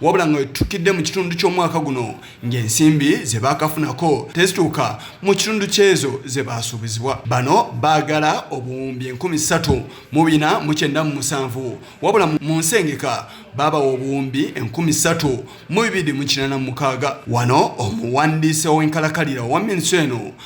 wabula nga wetutukidde mu kitundu ky'omwaka guno ng'ensimbi ze baakafunako tezituuka mu kitundu kyezo ze baasuubizibwa bano baagala obuwumbi enkumi ssatu mu bina mu kyenda mu musanvu wabula mu nsengeka baabawa obuwumbi enkumi ssatu mu bibiri mu kinana mu mukaaga wano omuwandiisi ow'enkalakalira owa minsi eno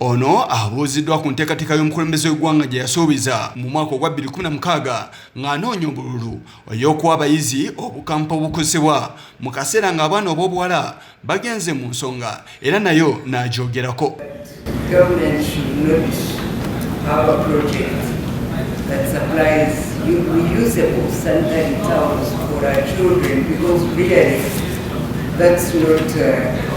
Ono abuuziddwa ku nteekateeka y'omukulembeze w'eggwanga gye yasuubiza mu mwaka ogwa 2016 ng'anoonya obululu ey'okuwa abayizi obukampa obukozesebwa mu kaseera ng'abaana ob'obuwala bagenze mu nsonga era nayo n'agyogerako that supplies reusable sanitary towels for our children because really that's not uh,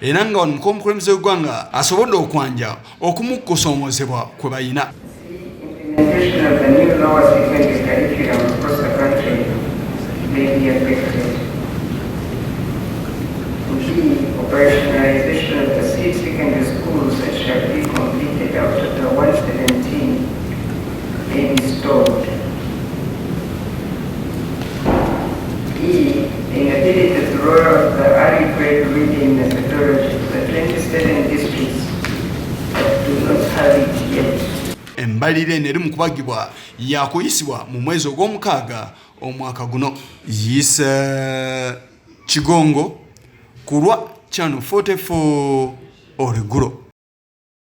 era nga wano mukomukulembeze w'eggwanga asobodde okwanja okumu kusoomozebwa kwe balina embalire eno eri mu kubagibwa yakuyisibwa mu mwezi ogw'omukaaga omwaka guno yise kigongo kulwa channel 44 origulo